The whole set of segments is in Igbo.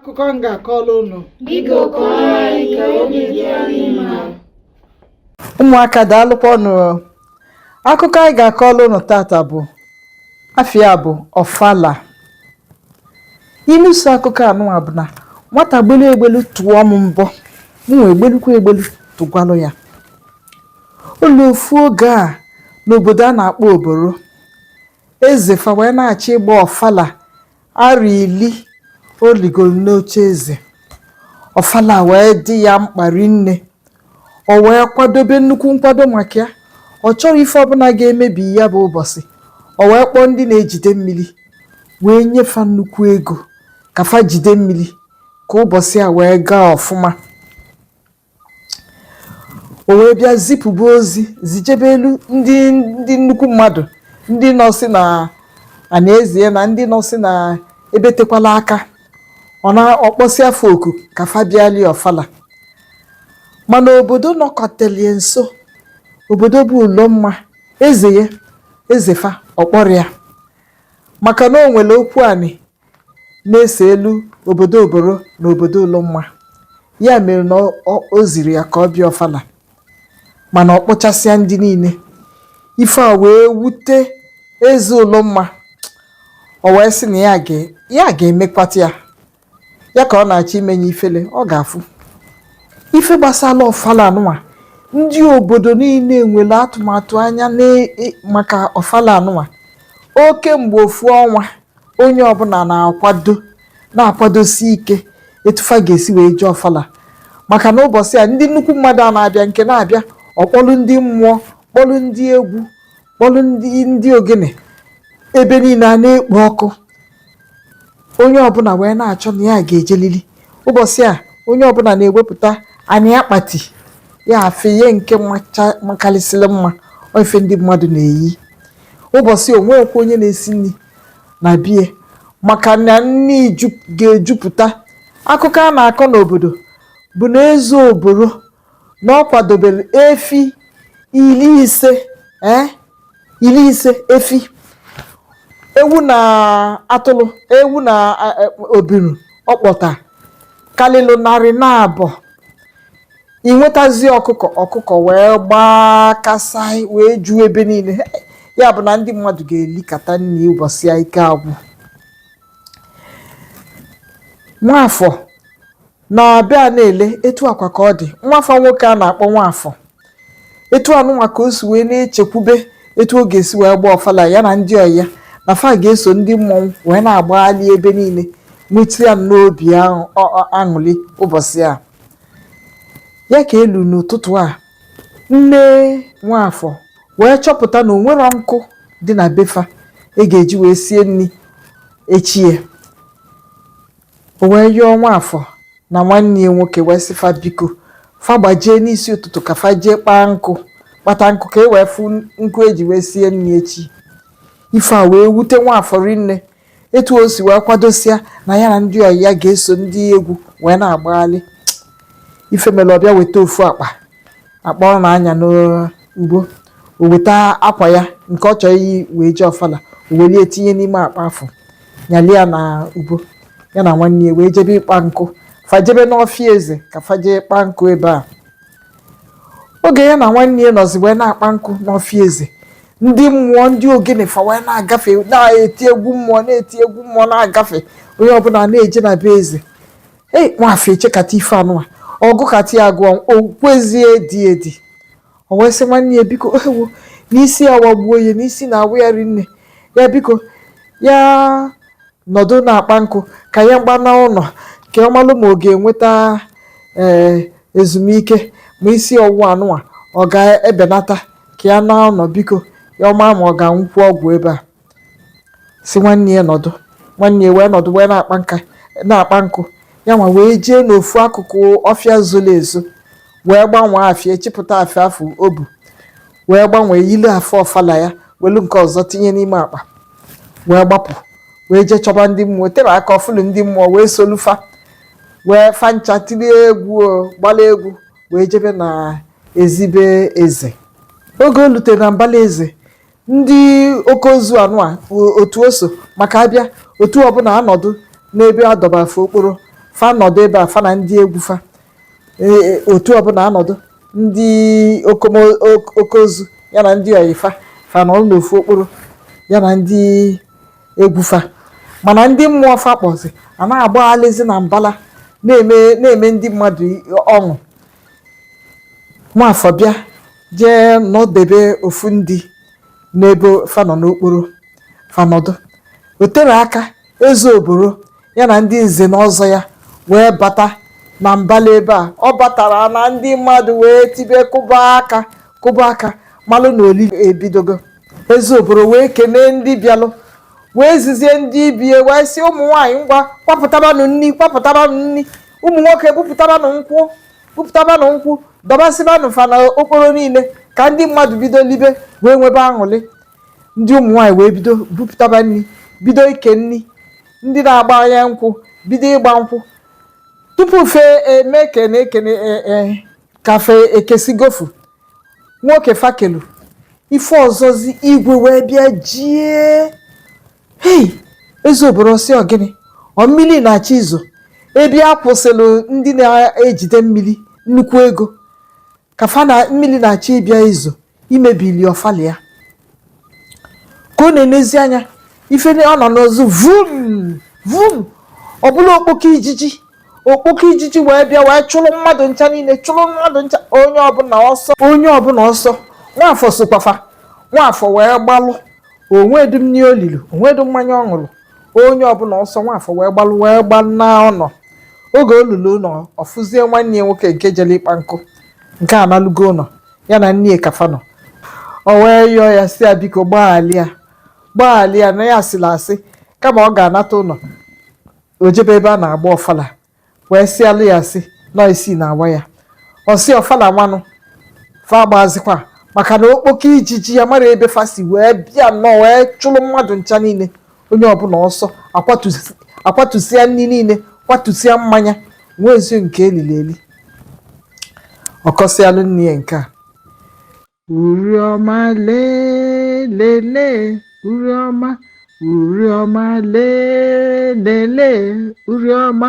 akụkọ m ga-akọrọ unu ụmụaka daalụkwanụ akụkọ anyị ga-akọrọ unu tata bụ afa ya bụ ọfala inu so akụkọ anụwa bụ na nwata gbelu egbelu tụọ m mbọ m wee gbelukwa egbelu tụgwalụ ya o luo ofu oge a n'obodo a na-akpọ oboro eze fa wee na-achọ ịgba ọfala arọ ili o ligoro n'oche eze ọfala wee dị ya mkpa rinne o wee kwadobe nnukwu nkwado maka ya ọ chọrọ ife ọbụna ga-emebi ya bụ ụbọsị o wee kpọọ ndị na-ejide mmiri wee nye fa nnukwu ego ka fa jide mmiri ka ụbọsị a wee gaa ọfụma o wee bịa zipụba ozi zijebelu ndị ndị nnukwu mmadụ ndị nọsị na anị eze na ndị nọsị na ebe tekwalụ aka ọ na-akpọsịa fa oku ka fa bịali ọfala mana obodo nọketelụ ya nso obodo bụ ụlọmma eze ya eze fa ọ kpọrọ ya maka na o nwere okwu anị na-eselu obodo Oboro na obodo Ụlọmma. Ya mere na ọ ọ o zirọ ya ka ọ bịa Ọfala mana ọ kpọchasịa ndị niile. Ife a wee wute eze Ụlọmma. O wee sị na ya ga ya ga-emekwata ya. Ya ka ọ na-achọ imenye ifele, ọ ga-afụ. Ife gbasara Ọfala anụnwa, ndị obodo niile nwere atụmatụ anya n'e e maka Ọfala anụnwa. Ọ kemgbe ofu ọnwa onye ọbụna na-akwado na-akwadosi ike etu fa ga-esi wee jee ọfala maka na ụbọsị a ndị nnukwu mmadụ a na-abịa nke na-abịa ọ kpọlụ ndị mmụọ kpọlụ ndị egwu kpọlụ ndị ndị ogene ebe niile a na-ekpo ọkụ onye ọbụna wee na-achọ na ya ga-ejelili ụbọsị a onye ọbụna na-ewepụta anị akpati ya afe ya nke macha- makarịsịrị mma ọ ife ndị mmadụ na-eyi ụbọsị o nweghịkwa onye na-esi nni na be ya maka na nni ju- ga-ejupụta akụkọ a na-akọ n'obodo bụ na eze oboro na ọ kwadobere efi ili ise eh, ili ise efi ewu na atụlụ ewu na eh, eh, obiru ọ kpọta kalịlụ narị naabọ ị nwetazi ọkụkọ ọkụkọ wee gbakasịa wee juo ebe niile ya bụ na ndị mmadụ ga-elikata nri ụbọchị ya ike agwụ nwafọ na-abịa na-ele etu akwa ka ọ dị nwafọ nwoke a na-akpọ nwafọ etu anụnwa ka o si wee na-echekwube etu ọ ga-esi wee gbaa ọfala ya na ndị ọyị ya na fa ga-eso ndị mmọnwụ wee na-agbagharị ebe niile nwetụ ya n'obi aṅụrị ụbọchị a Ya ka e lu n'ụtụtụ a, nne Nwafọ wee chọpụta na o nwerọ nkụ dị na be fa e ga-eji wee sie nni echi ya. O wee yọọ Nwafọ na nwanne ya nwoke wee sị fa biko fa gbajee n'isi ụtụtụ ka fa jee kpaa nkụ kpata nkụ ka e wee fụ nkụ e ji wee sie nri echi. Ife a wee wute Nwafọ rinne etu o si wee kwadosia na ya na ndị ọyị ya ga-eso ndị egwu wee na-agbaghalị ife mere ọ bịa weta ofu akpa akpa ọ na-anya n'ubu o weta akwa ya nke ọ chọrọ iyi wee jee ọfala o welie tinye n'ime akpa afụ nyalị ya n'ubu ya na nwanne ya wee jebe ịkpa nkụ fa jebe n'ọfịa eze ka fa jee kpaa nkụ ebe a oge ya na nwanne ya nọzi wee na-akpa nkụ n'ọfịa eze ndị mmụọ ndị ogene fa wee na-agafe na-eti egwu mmụọ na-eti egwu mmụọ na-agafe onye ọbụla na-eje na be eze ei nwafọ echekata ife anụwa ọ gụkata ya gụọ o kwezi edi edi o wee sị nwanne ya biko ewo na isi ya awagbuo ya na isi na-awa ya rinne ya biko ya nọdụ na-akpa nkụ ka ya gbana ụnọ ka ọ malụ ma ọ ga-enweta ee ezumike ma isi ọwụwa anụnwa ọ ga-ebenata ka ya naa ụnọ biko ka ọ ma ma ọ ga-aṅụkwu ọgwụ ebe a sị nwanne ya nọdụ nwanne ya wee nọdụ wee na-akpa nka na-akpa nkụ ya nwa wee jee n'ofu akụkụ ọfịa zoro ezo wee gbanwee afe ya chịpụta afe ya afụ o bu wee gbanwee yili afe ọfala ya welu nke ọzọ tinye n'ime akpa wee gbapụ wee jee chọba ndị mmụọ tere aka ọ fụlụ ndị mmụọ wee solu fa wee fa ncha tilie egwu gbalụ egwu wee jebe n'ezi be eze oge o lutere na mbala eze ndị oke ozu anụwa o- otu o so maka abịa otu ọbụla anọdụ n'ebe a dọbara fa okporo fa nọdụ ebe a fa na ndị egwu fa Ee, otu ọbụla anọdụ ndị okomo- ok- oke ozu ya na ndị ọyị fa fa anọrọ n'ofu okporo ya na ndị egwu fa mana ndị mmụọ fa kpọzi a na-agbaghalịzi na mbala na-eme na-eme ndị mmadụ ọṅụ nwafọ bịa jee nọdebe ofu ndị n'ebe fa nọ n'okporo fa nọdụ o tere aka eze oboro ya na ndị nze na ọzọ ya wee bata na mbala ebe a ọ batara na ndị mmadụ wee tibe kụba aka kụba aka malụ na olili ebidogo eze oboro wee kenee ndị bịalụ wee zizie ndị ibie wee sị ụmụ nwaanyị ngwa kwapụtabanụ nri kwapụtabanụ nri ụmụ nwoke bupụtabanụ nkwụ bupụtabanụ nkwụ dọbasịbanụ fa na okporo niile ka ndị mmadụ bido libe wee nwebe aṅụlị ndị ụmụ nwaanyị wee bido bupụtaba nri bido ike nri ndị na-agba anya nkwụ bido ịgba nkwụ tupu fa eme kene kene ee ka fa ekesigo ofu nwoke fa kelu ife ọzọzi igwe wee bịa jie hei eze oboro sị ọ gịnị ọ mmiri na-achọ izo ebe a kwụsịrị ndị na-ejide mmiri nnukwu ego ka fa na mmiri na-achọ ịbịa izo imebili ọfala ya ka ọ na-enezi anya ife ọ na-anụzi vum vum ọ bụla okpoko ijiji okpoko ijiji wee bịa wee chụrụ mmadụ ncha niile chụrụ mmadụ ncha onye ọbụla ọsọ onye ọbụla ọsọ nwafọ sokwa fa nwafọ wee gbalụ o nwedị nri o lili o nwedị mmanya ọ ṅụrụ onye ọbụla ọsọ nwafọ wee gbalụ wee gbalụ na ụlọ oge o lulu ụlọ ọ fụzie nwanne ya nwoke nke jere ịkpa nkụ nke analugo ụlọ ya na nne ka fa nọ o wee yọọ ya sị ya biko gbaghalịa gbaghalịa na ya sịlị asị kama ọ ga-anata ụlọ o jebe ebe a na-agba ọfala wee sịalụ ya asị na isi na-awa ya ọ sị ọfala nwanụ fa agbazikwa maka na okpoko ijiji ya marọ ebe fa si wee bịa nnọọ wee chụrụ mmadụ ncha niile onye ọbụla ọsọ akwatụsịa nri niile kwatụsịa mmanya nwezirọ nke e liri eli ọ kọsịalụ nne ya nke a uri ọma lelele uri ọma uri ọma lelele uri ọma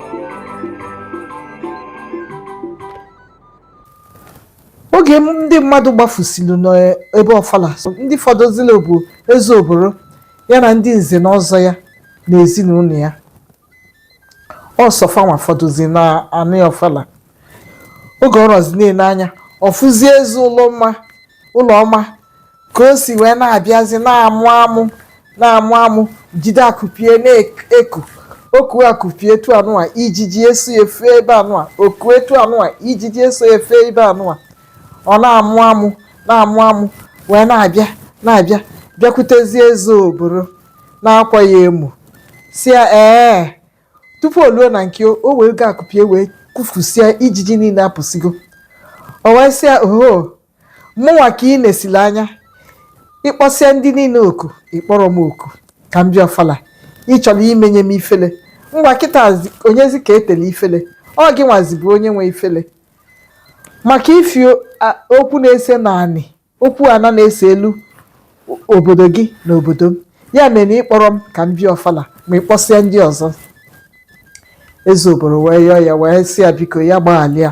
oge ndị mmadụ gbafusiri n'ebe ọfala ndị fọdụzili bụ eze oboro ya na ndị nze na ọzọ ya na ezinụlọ ya ọ sọ fa nwa fọdụzi na anị ọfala oge ọ rọzi na-ele anya ọ fụzie eze ụlọ mma ụlọ ọma ka o si wee na-abịazi na-amụ amụ na-amụ amụ jide akụpie na-eku oku akụpie etu anụwa ijiji eso efe ebe anụwa oku etu anụwa ijiji eso efe ebe anụwa ọ na-amụ amụ na-amụ amụ wee na-abịa na-abịa bịakwutezie eze oboro na-akwa ya emu sị ya ee tupu o luo na nke o o wee go akụpie wee kụfusie ijiji niile apụsigo o wee sị ya oho mụnwa ka ị na-esili anya ị kpọsịa ndị niile oku ị kpọrọ m oku ka m bịa ọfala ị chọrọ imenye m ifele ngwa kịta zi- onyezi ka etele ifele ọ gị nwazi bụ onye nwe ifele maka ifi o- a- okwu na-ese naanị okwu ana na-eselu o- obodo gị na obodo m ya mere na ị kpọrọ m ka m bịa ọfala ma ị kpọsịa ndị ọzọ eze oboro wee yọọ ya wee sị ya biko ya gbaghalịa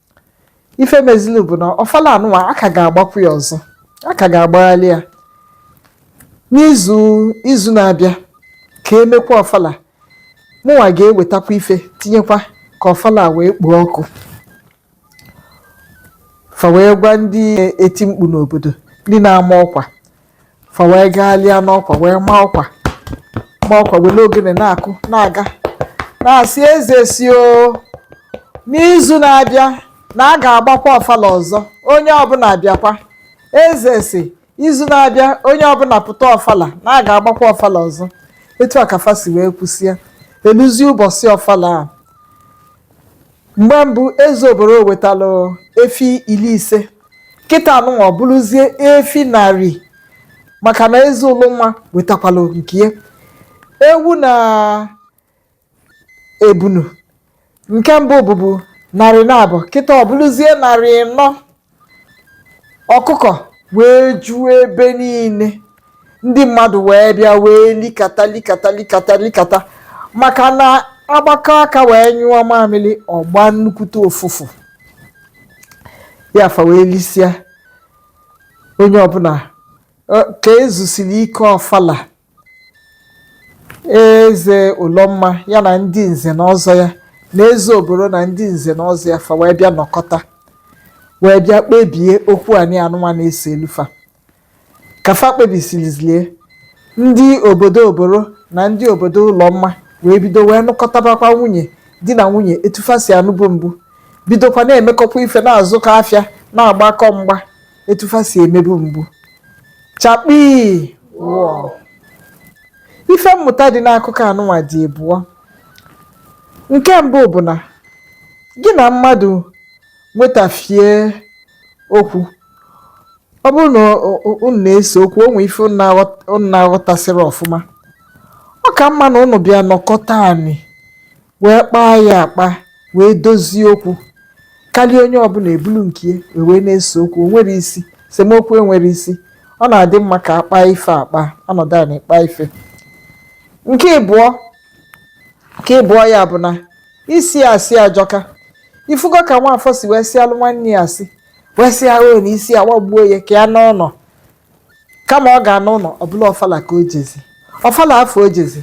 ife mezili bụ na ọfala anụwa a ka ga-agbakwu ya ọzọ a ka ga-agbagharị ya n'izu izu na-abịa ka e mekwa ọfala mụnwa ga-ewetakwa ife tinyekwa ka ọfala wee kpoo ọkụ fa wee gwa ndị eti mkpu n'obodo ndị na-ama ọkwa fa wee gaalịa n'ọkwa wee maa ọkwa ma ọkwa were ogene na-akụ na-aga na-asị eze sị o n'izu na-abịa na a ga-agbakwa ọfala ọzọ onye ọbụla abịakwa eze sị izu na-abịa onye ọbụla pụta ọfala na a ga-agbakwa ọfala ọzọ etu a ka fa si wee kwusịa e luzi ụbọchị ọfala a Mgbe mbụ eze oboro wetalụ efi iri ise, kịta anụnwa ọ bụrụzie efi narị maka na eze ụlụnwa wetakwalụ nke ya. Ewu na ebunu nke mbụ bụbu narị naabọ, kịta ọ bụrụzie narị ịnọ. ọkụkọ wee juo ebe niile ndị mmadụ wee bịa wee likata likata likata likata maka na a gbakọọ aka wee nyụọ mamịrị ọ gbaa nnukwute ụfụfụ ya fa wee lisịa onye ọbụla ọ- ka e zusiri ike ọfala eze ụlọmma ya na ndị nze na ọzọ ya na eze oboro na ndị nze na ọzọ ya fa wee bịa nọkọta wee bịa kpebie okwu anị anụnwa na-eselu fa ka fa kpebisilizie ndị obodo oboro na ndị obodo ụlọmma wee bido wee nụkọtabakwa nwunye di na nwunye etu fa si anụbu mbụ bidokwa na-emekọkwa ife na-azụkọ afịa na-agbakọ mgba etu fa si emebu mbụ chakpii wọọ ife mmụta dị n'akụkọ anụnwa dị ịbụọ nke mbụ bụ na gị na mmadụ nwetafie okwu ọ bụrụ na o- o- unu na-ese okwu o nwee ife unu na-aghọt- unu na-aghọtasịrọ ọfụma ọ ka mma na unu bịa nọkọta anị wee kpaa ya akpa wee dozie okwu karịa onye ọbụla ebulu nke ya wee wee na-ese okwu o nwerọ isi esemokwu enwerọ isi ọ na-adị mma ka a kpaa ife akpa a nọdụ anị kpaa ife nke ịbụọ nke ịbụọ ya bụ na ịsị asị ajọka ị fụgo ka nwaafọ si wee sịalụ nwanne ya asị wee sị ya na isi awagbuo ya ka ya nọ ụnọ kama ọ ga-anọ ụnọ ọ bụlụ ọfala ka o jezi ọfala afụ o jezi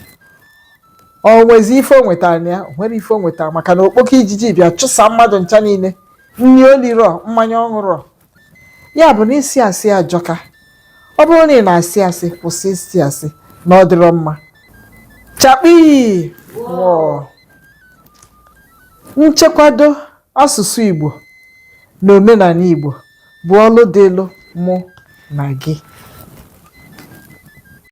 o nwezi ife o nwetara na ya o nwerọ ife o nwetara maka na okpoko ijiji bịa chụsa mmadụ ncha niile nri o lirọ mmanya ọ ṅụrọ ya bụ na ịsị asị ajọka ọ bụrụ na ị na-asị asị kwụsị ịsị asị na ọ dịrọ mma chakpii wọọ nchekwado Asụsụ Igbo na omenanị Igbo bụ ọlụ dịlụ mụ na gị.